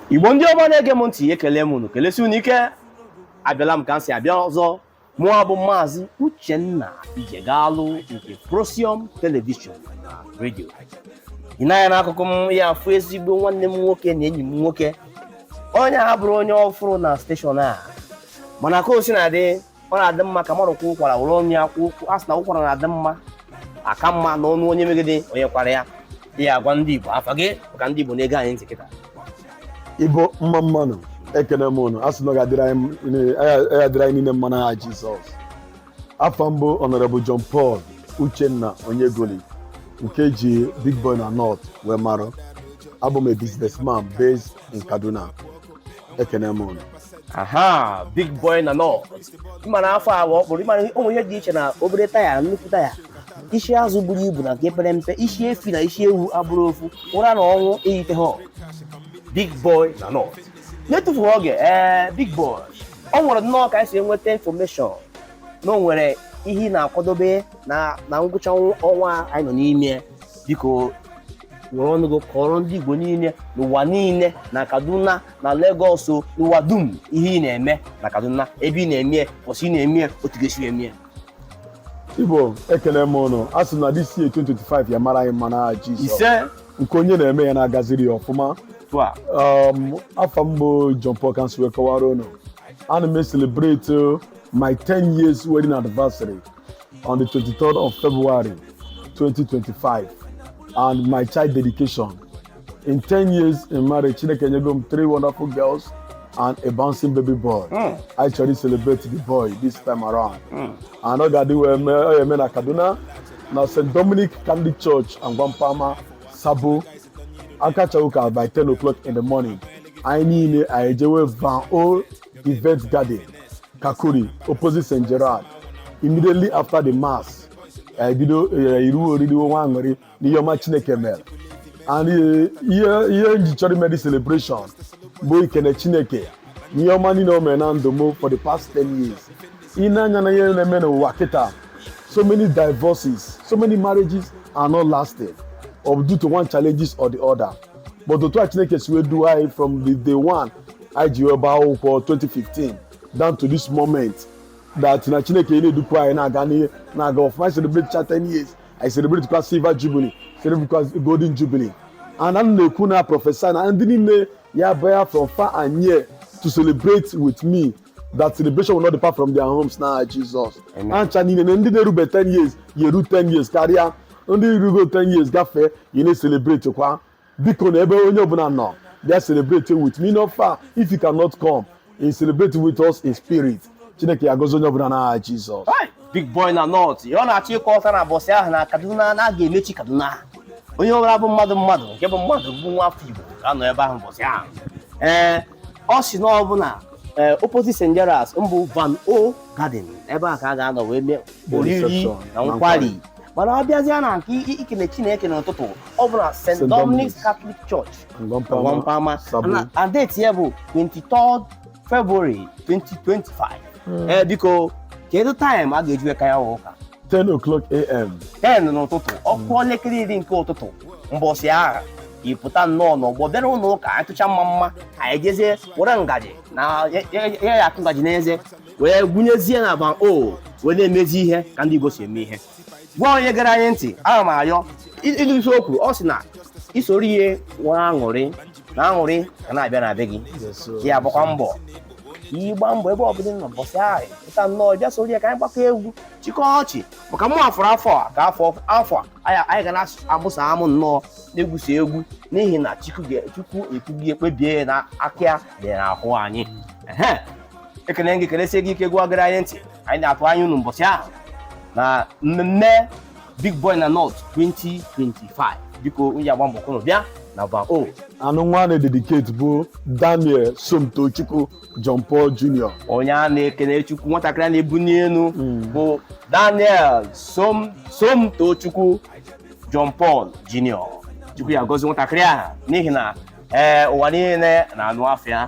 igbo ndị ọma na-ege m ntị ekele m unu kelesi unu ike abịala m ka m si abịa ọzọ mụwa bụ maazị uchenna ijegalụ nke prosium telivishọn na redio ị nee anya n'akụkụ m ị ya-afụ ezigbo nwanne m nwoke na enyi m nwoke onye a abụrọ onye ọfụrụ na steshọn a mana ka o si na-adị ọ na-adị mma ka mmadụ kwaa ụkwara were ọnụ ya kwaa a sị na ụkwara na-adị mma aka mma n'ọnụ onye megide onye kwara ya ị ya-agwa ndị Igbo afa gị maka ndị Igbo na-ege anyị ntị kịta Igbo mma mma nụ ekene m ụnụ a sị na ọ ga-adịrị anyị niile mma n'aha Jizọs afa m bụ Honorable John Paul Uchenna Onyegoli nke e ji Big Boy na North wee mara abụ m a businessman based in Kaduna ekene m ụnụ aha big boy na North ị mara afa ahụ ọ kpụrụ ị mara o nwe ihe dị iche na obere taya nnukwu taya isi azụ buru ibu na nke pere mpe isi efi na isi ewu abụrọ ofu ụra na ọnwụ eyite ha big boy na North n'etufughị oge ee eh, big boy ọ nwere nnọọ ka anyị si enweta infọmeshọn na o nwere ihe ị na-akwadobe na ngwụcha ọnwa anyị nọ n'ime biko were ọnụ gị kọrọ ndị Igbo niile n'ụwa niile na Kaduna na Lagos n'ụwa dum ihe ị na-eme na Kaduna ebe ị na-eme ụbọsị ị na-eme otu ị ga-esi eme Igbo ekele m ụnụ a sị na this year 2025 ya-amara anyị mma n'aha Jizọs isee nke onye na-eme ya na-agaziri ya ọfụma um, afa m bụ John Paul ka m si wee kọwara ụnụ ana m ecelebrate my 10 years wedding anniversary on the 23rd of February 2025 and my child dedication. In 10 years in marriage, Chineke nyego m three wonderful girls and a bouncing baby boy. Mm. I actually celebrate the boy this time around. Mm. And ọ ga-adị wee mee ọ eme na Kaduna na St. Dominic Catholic Church Ungwan Pama Sabo a kachaa ụka by 10 o'clock in the morning. Anyị niile anyị ejewe Van O Event Garden Kakuri opposite St. Gerard immediately after the mass e bido eh, iri oriri na aṅụrị n'ihe ọma Chineke mere and eh, ihe ihe m ji chọọ ime celebration bụ ikene Chineke n'ihe ọma niile o mere na ndụ m for the past 10 years ị nee anya n'ihe na-eme n'ụwa kịta so many divorces so many marriages are not lasting or due to one challenges or the other but otu a Chineke si wee duo anyị from the day one anyị ji wee gbaa akwụkwọ 2015 down to this moment that na chineke na-edukwa anyị na-aga n'ihu na-aga ọfụma anyị celebrate cha 10 years anyị celebrate kwa silver jubilee celebrate kwa golden jubilee and a m na-ekwu na-prophesy na ndị niile ya bịa from far and near to celebrate with me that celebration will not depart from their homes na aha jizọs Amen. ha ncha niile na ndị na-erube 10 years ya eru 10 years karịa ndị rugo 10 years gafee ya na-celebrate kwa biko na ebe onye ọbụla nọ bịa celebrate with me no far if you cannot come you celebrate with us in spirit chineke ya gozi onye ọbụla n'aha jizọs big boy na north ọ na-achọ ịkọ ọta na mbọsị ahụ na kaduna na a ga-emechi kaduna onye ọbụla bụ mmadụ mmadụ nke bụ mmadụ bụ nwa afọ igbo ga-anọ ebe ahụ mbọsị ahụ ee ọ sị na ọ bụ na eh, opposite St. Gerard's bụ Van O Garden ebe a ka a ga-anọ wee mee oriri na nkwari mana a bịazịa na nke ikene Chineke n'ụtụtụ ọ bụ na St. Dominic's Catholic Church Ungwan Pama na date ya bụ 23 February 2025 ee biko kedu taịm a ga-eji wee kaa ya ụka 10 o'clock a.m. 10 n'ụtụtụ ọ kụọ elekere iri nke ụtụtụ mbọsị ahụ ị pụta nnọọ n'ọgbọ bịara ụlọ ụka anyị tụcha mma mma ka anyị jezie were ngaji na ya ya- ya ya akụ ngaji n'eze wee gụnyezie na Van O wee na-emezi ihe ka ndị Igbo si eme ihe gwa onye gere anyị ntị ana m ayọ ịdị isi okwu ọ sị na i soro ibe nwee aṅụrị na aṅụrị ga na-abịa na be gị ka ya gbakwa mbọ ka ị gbaa mbọ ebe ọbụla ị nọ mbọsị ahụ pụta nnọọ bịa soro ya ka anyị gbakọ egwu chịkọ ọchị maka mụ afọrọ afọ a ka afọ afọ a anyị anyị ga na-amụsa amụ nnọọ na-egwusi egwu n'ihi na chukwu ga- chukwu ekwugo ekpebie na aka ya dị n'ahụ anyị Ehe. ekele gị kelesie gị ike gị wa gere anyị ntị anyị na-atụ anya unu mbọsị ahụ na mmemme Big Boy na North 2025 biko unu ya-agba mbọ ka unu bịa na Van O and nwa a na-ededicate bụ Daniel Somtochukwu John Paul Jr. onye a na-ekene chukwu nwatakịrị a na-ebuni elu bụ Daniel Som Somtochukwu John Paul Jr. chukwu ya gozi nwatakịrị ahụ n'ihi na ee ụwa niile na-anụ afa ya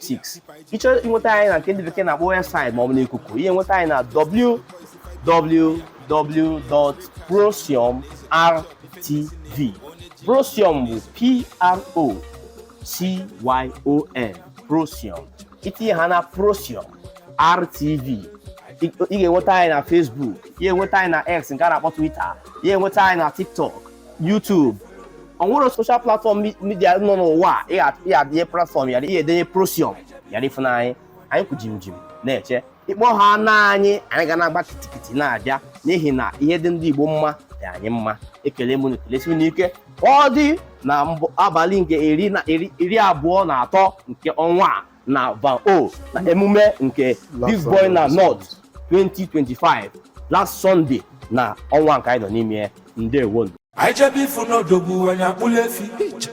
6 ị chọọ inweta anyị na nke ndị bekee na-akpọ webụsaịtị maọbụ n'ikuku ị ya enweta anyị na www.procyonrtv procyon bụ p-r-o-c-y-o-n procyon i tinye ha na procyon rtv ị ga-enweta anyị na Facebook ị ya enweta anyị na X nke a na-akpọ Twitter ị ya enweta anyị na TikTok YouTube o nwere soshal platfọm midia nọ n'ụwa ị ya edenye platfọm ya ị ya edenye procyon ị ya afụ na anyị anyị kwụ jim jim na-eche ị kpọhaana anyị anyị ga na-agba kitikiti na-abịa n'ihi na ihe dị ndị Igbo mma dị anyị mma ekele m unu kelesie unu ike ọ dị na abalị nke iri abụọ na atọ nke ọnwa a na Van O na emume nke Big Boy na North 2025 last Sunday na ọnwa nke anyị nọ n'ime ya ndewonụ anyị jebe ifu n'odogwu anyị akpụla efi